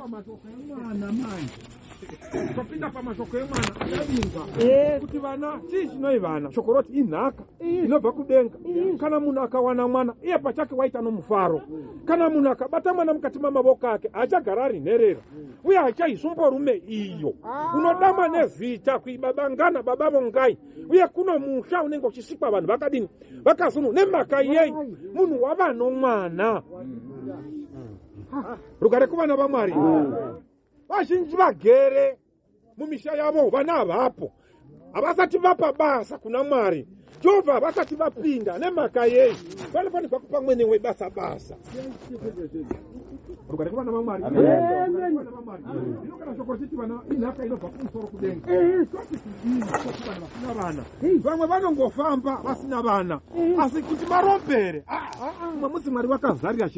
pamashoko emwana manje topinda pamashoko emwana adavingwa eh. kuti vana chii chinoi vana shoko roti inhaka eh. inobva kudenga eh. kana munhu akawana mwana iye pachake waita nomufaro kana munhu akabata mwana mukati mamavoko ake haachagara ari nherera uye hachaizumborume iyo ah. unodama nezita kuibabangana baba vongai uye kuno musha unenge uchisikwa vanhu vakadini vakazunu nemhaka yei munhu wavanomwana mm. rugare kuvana vamwari vazhinji vagere mumisha yavo vana havapo havasati vapa basa kuna mwari jehovha havasati vapinda nemhaka yei vanofanirwa kupa mwene webasa basa rugare kuvana vamwari inogara shoko richiti vana inhaka inobva kumusoro kudenga vana vasina vana vamwe vanongofamba vasina vana asi kuti marombere ah, ah, ah. mumwe musi mwari vakazarira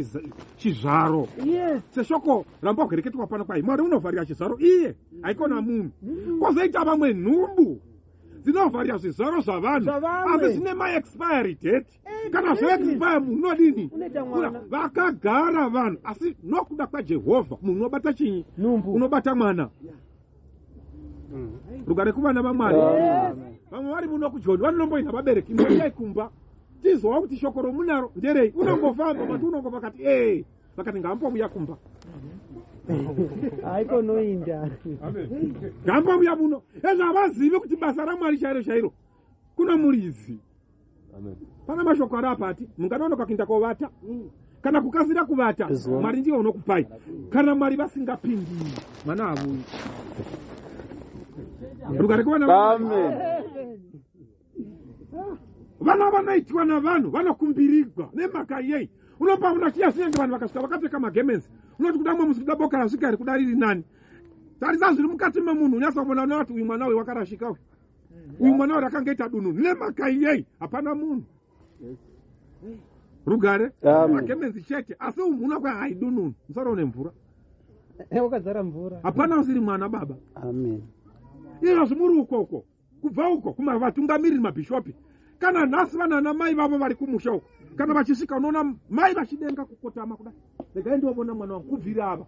chizvaro yes. seshoko ramba kuhereketwa pano kwai mwari unovharira chizvaro iye haikona munhu mm-hmm. kwozoita vamwe nhumbu dzinovharira zvizvaro zvavanhu asi zvine maexpiry date eh, kana zvoexpire munhu unodini vakagara vanhu asi nokuda kwajehovha munhu unobata chinyi unobata mwana rugare kuvana vamwari vamwe vari muno kujoni vanonomboinha vabereki mboiyai kumba tizowa kuti shoko romunaro nderei unongofamba mati unongo vakati ee vakati ngaambomuya kumba haiko noinda ngaambomuya muno ezvavazivi kuti basa ramwari chairo chairo kuna muridzi pana mashoko ari apati munganonoka kuinda kovata mm. kana kukasira kuvata mwari ndiyo unokupai kana mwari vasingapindi mwana havuyi rugare kuvana vana vanoitwa navanhu vanokumbirigwa nemhaka yei unopa uno chiya sinenge vanhu vakasvika vakapfeka magemenzi unoti kuda mwe musi kuda boka rasvika iri kuda riri nani tarisa zviri mukati memunhu unyasa kuvona unati uyu mwana uyu wakarashika uyu uyu mwana wari akangaita dunhu nemhaka iyei hapana munhu rugare makemenzi chete asi umhuna kwahaidununu musara une mvura eh, wakazara mvura hapana usiri mwana baba amen ino zvimuri ukoko kubva uko kumavatungamiriri mabhishopi kana nhasi vanana mai vavo vari kumusha uko kana vachisvika unoona mai vachidenga kukotama kudai regai ndiovona mwana wangu kubvira ava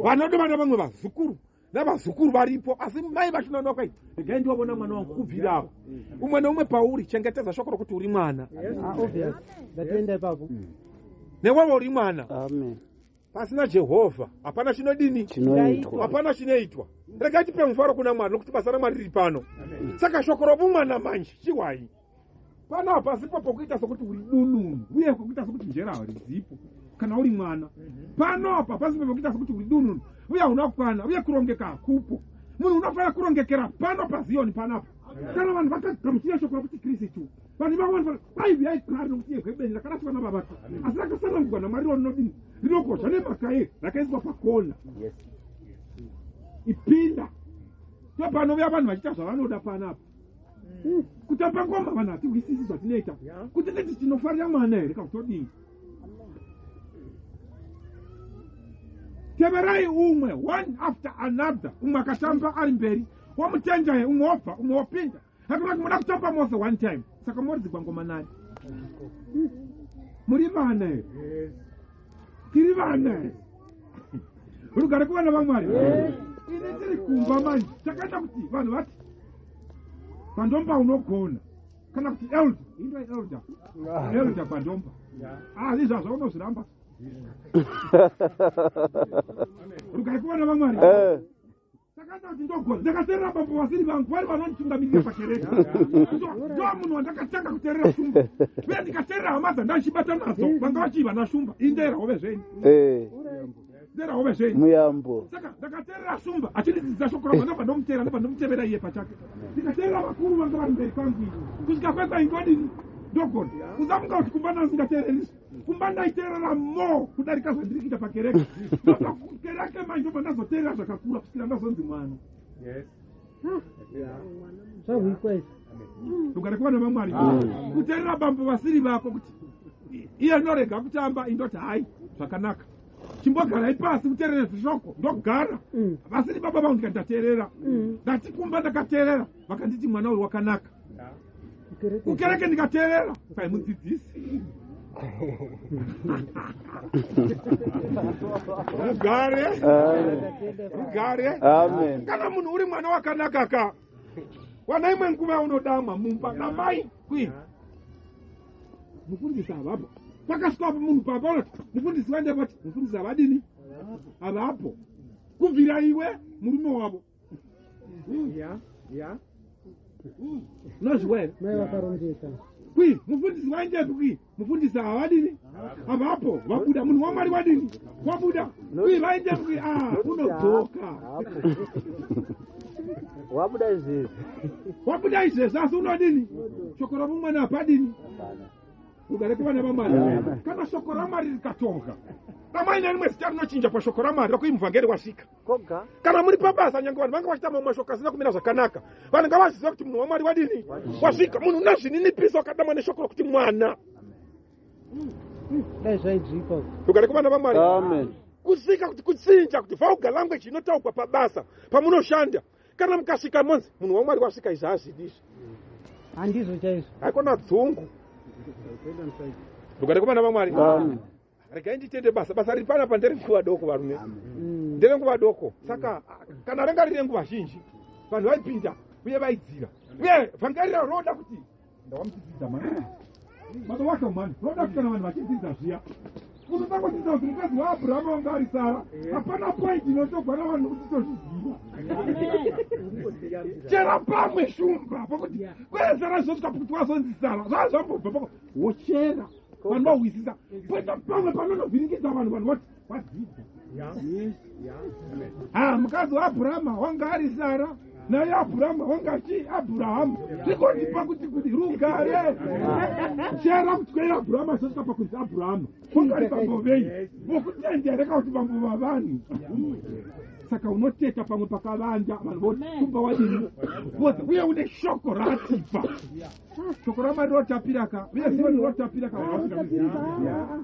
vanodo vana vamwe vazukuru navazukuru varipo asi mai vachinoona kwai regai ndiwavona mwana wangu kubvira apo umwe neumwe pauri chengetedza shoko rokuti uri mwana ndatoenda ah, ipapo mm. newevo uri mwana pasina jehovha hapana chinodini hapana chinoitwa regai tipe mufaro kuna mwari nokuti basa ramwari riri pano saka shoko rovumwana manje chiwai pano hapasipo pokuita sokuti uri dununu uye pokuita sokuti njera harizipo kana uri mwana mhm. pano apa pasipo pokuita sokuti uri dununu uye hauna kukwana uye kurongeka hakupo munhu unofanira kurongekera pano paziyoni panapa kana vanhu vakagamuchira shoko rakuti kristu vanhu vavona vaiviyai kari nokuti yehwebeni rakaraswa navavaka asi rakasanangurwa namwari rinodini rinokosha nemhaka ye rakaiswa pakona ipinda ndopanovea vanhu vachiita zvavanoda panapa kutamba ngoma vanhu hatingisisi zvatinoita kuti titi tinofarira mwana here kakutodini teverai umwe one after another umwe akatamba ari mberi wamutendai umwe wobva umwe wopinda hakuna kuti moda kutamba mose one time saka moridzigwa ngoma nani muri vana here tiri vana rugare kuvana vamwari ini tiri kumba manje chakaita kuti vanhu vati pandomba unogona kana kuti elda indwa elda elda pandomba ah, izvazva unozviramba rugare kuvana vamwari eh. Ndakaita kuti ndogona. Ndakaterera bambo vasiri vangu vari vanonditungamirira pakereke. Ndomunhu wandakatanga kuterera shumba. Uye ndikaterera hama dzandaichibata nadzo vanga vachiiva nashumba. Indera hove zvenyu. Eh. Ndera hove zvenyu. Muyambo. Saka ndakaterera shumba achindidzidza shoko ravo ndobva ndomuteera ndobva ndomutevera iye pachake. Ndikaterera vakuru vanga vari mberi kwangu. Kusvika kwekwaindodini ndogona. Usafunga kuti kumba nanzi ndateererisa. kumba ndaiteerera mo kudarika zvandiri kuita pakereke kereke manje obva ndazoteerera zvakakura kusvira ndazonzi mwana zvahuikwa izvi rugare kuva nevamwari kuteerera bambo vasiri vako kuti iye norega kutamba indoti hayi zvakanaka chimbogarai pasi kuteerere zvishoko ndogara vasiri baba vangu ndikateerera ndatikumba ndakateerera vakanditi mwana uri wakanaka kukereke ndikateerera saimudzidzisi rugare rugare kana munhu uri mwana wakanaka ka wana imwe nguva yaunodamwa mumba namai kwii mufundisi havapo pakasvikapo munhu papaona mufundisi vandepati mufundisi havadini havapo kubvira iwe murume wavo ya ya nozviwere mai vakarongeka kwi mufundisi waendepi kwi mufundisi havadini havapo vabuda munhu wamwari wadini wabuda kwi vaendepi kwi a unodzoka wabuda izvezvi wabuda izvezvi asi unodini shoko ramumwana hapadini ugare kuvana vamwari kana shoko ramwari rikatoka amai nerimwe zita rinochinja pashoko ramwari rakuimuvhangeri wasvika koga kana muri pabasa nyange vanhu vanga vachitama mashoko asina kumira zvakanaka vanhu ngavaziva kuti munhu wamwari wadini wasvika munhu una zvininipisa wakadamwa neshoko rokuti mwana dai zvaidzika rugare kuvana vamwari amen kuzika kuti kutsinja kuti vulgar language inotaugwa pabasa pamunoshanda kana mukasvika monzi munhu wamwari wasvika izvi hazvidi izvi handizvo chaizvo haikona dzungu rugare kuvana vamwari Amen. regai nditende basa basa riri panapa nderenguva doko varume mm. nderenguva doko saka kana ranga riri renguva zhinji vanhu vaipinda uye vaidzira uye vangarira roda kuti ndawamuchidzidza mani matowacho mani roda kuti kana vanhu vachidzidza zviya unotangodzidza kuti mukadzi waabrahama wanga ari sara hapana point inotogwana vanhu kuti tozviziva chera pamwe shumba pakuti kwezara zvosvika pakuti wazonzi sara zvaa zvambobva pako wochera vanhu vahwisisa poita pamwe panonovhiringidza vanhu vanhu voti vadzidza ha mukadzi waabhurahama wanga ari sara naye abhurahama wanga chi abhurahama zvikondipa kuti kuti rugare chera kuti kwei abhurahama zvosvika pakunzi abhurahama kungari bambo vei vokutendere ka kuti bambo vavanhu saka unoteta pamwe pakavanja vanhu voti kumba wadini voza uye une shoko ratipa shoko ramwari rotapira ka uye ziyoni rotapira ka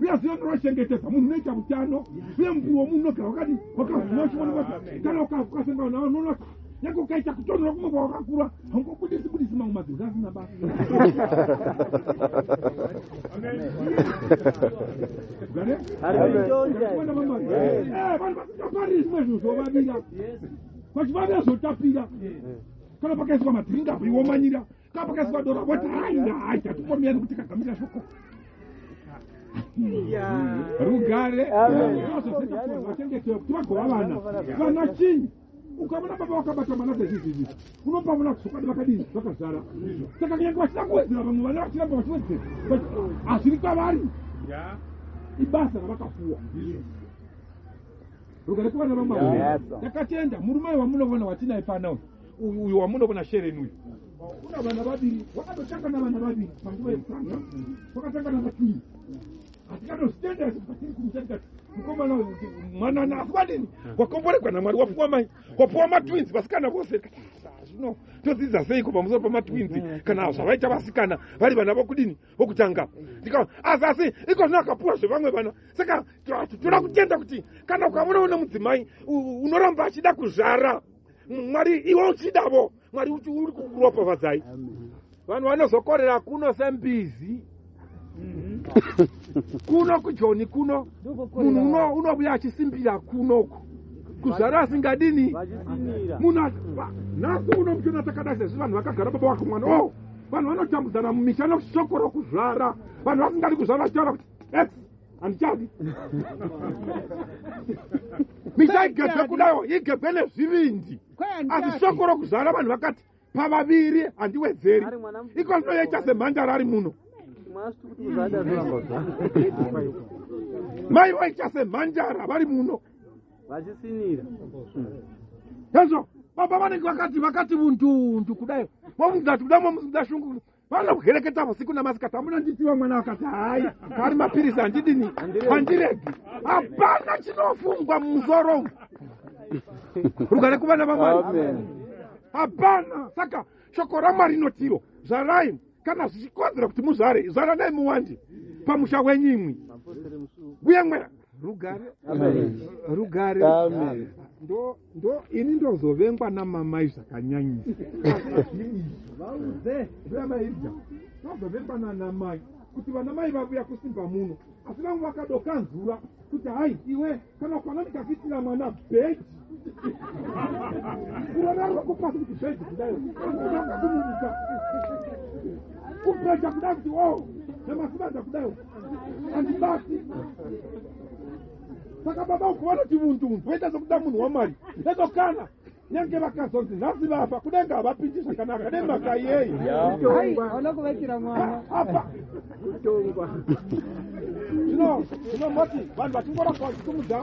uye ziyoni rochengetedza munhu unoita utano uye muviri womunhu unogara wakadi wakavhuna uchionekwa kana ukasangana navo unoona kuti nyange ukaita kutonhora kumwe kwawakakura haungobudisi budisi mamwe madhuri asina basa vachivavira zvotapira kana pakaiswa madhiringi apo iwomanyira kapakasi vadora voti haya hai tatikomiyani kuti kagamira shoko rugare kuti vagova vana vana chinyi ukaona baba vakabata mwana dzezvizizi unopa mwana kusokwadi vakadii vakazara saka kunyange vasina kuwedzera vamwe vana vachiramba vachiwedzera hazviri kwavari ibasa ravakapuwa rugare kuvana vamwari takatenda murume wamunovona watinaye pano uyu uyu wamunoona shereni uyu kuna vana vaviri wakatotanga navana vaviri panguva yekutanga kwakatanga navakii hatikatozitendera sekuti patiri kumutarika mukomana mwanana asi kwadini wakomboregwa namwari wapuwa mai wapuwa matwins vasikana vose zvino todzidza seiko pamusoro pamatwins kana zvavaita vasikana vari vana vokudini vokutanga ndika asi asi iko zvino akapuwa zvevamwe vana saka toda kutenda kuti kana ukavona une mudzimai unoramba achida kuzvara mwari iwe uchidavo mwari uri kukuropafadzai vanhu vanozokorera kuno sembizi kuno kujoni kuno munhu unobuya achisimbira kunoku kuzvara asingadini munhu nhasi uno muchiona takada sezvi vanhu vakagara baba wake mwana o oh, vanhu vanotambudzana mumisha noshoko rokuzvara vanhu vasingadi kuzvara vachitaura kuti handichadi misha igebhe kudaiwo igebhe nezvivindi asi shoko rokuzvara vanhu vakati pavaviri handiwedzeri iko ndinoita semhandara ari muno mai vaita semhandara vari muno vachisinira hezvo baba vanenge vakati vakati vundundu kudai momudati kuda momuda shungu vana kuhereketa vusiku namasikati amuna nditiwa mwana vakati hayi ari mapirisi handidini handiregi hapana chinofungwa mumusoro umu rugare kuvana vamwari hapana saka shoko ramwari inotiro zvarai kana zvichikodzera kuti muzvare zvaranai muwandi pamusha wenyu imwi uye mwana rugare rugare ndo ndo ini ndozovengwa namamai zvakanyanyisa vauze vamairja vazovengwa nanamai kuti vana mai vavuya kusimba muno asi vamwe vakadokanzura kuti hai iwe kana kwana ndikakuitira mwana bheji kurara rwako pasi kuti bheji kudayo aaakumunisa kubheja kuda kuti o oh, namasibaja kudayo andibasi saka baba uku vanoti vundu voita sokuda munhu wamwari eto kana nyange vakazonzi nhasi vafa kudenga havapindi zvakanaka nemhaka yei vana kuvakira mwana apa kutongwa zvino zvino moti vanhu vachingoramba vachitumudza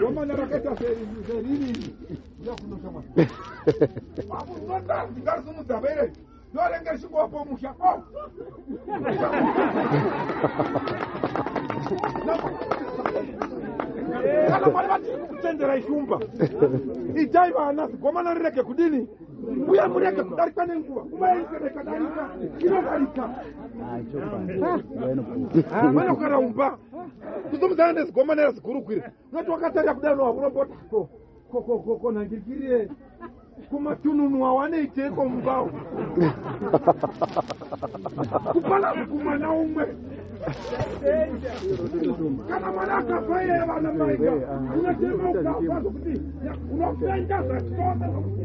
zomanya rakaita seriri yakunoshamwa vakuzotanzi ngarisumudza vere ndorenga chingwapo musha oh. kana mwari vatiri kukuchenjera ishumba itai vana zigomana rirege kudini uye murege kudarika nenguva nguva yaisarekadarika inodarika vanokaraumba kuzomudzana nezigomana razigurugwira noti wakatarira kudai unowa kunombota ko kokokoko nangirikiriye kumatununu awaneiteko mumbawo kupala mukumana umwe kana mwana akafa iye vana maika anyateema ukafa zvokuti unofenda zvachitose zvokuti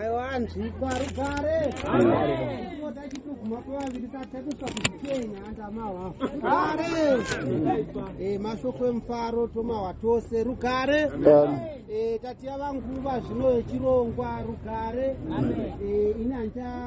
aiwanzwikwa rugare tinota chitoguma kwevaviri tatekuswa kuzvikenya andamahwa rugare eh, mashoko emufaro tomahwa tose rugare eh, tatiya vanguva zvino yechirongwa rugare eh, ini handicha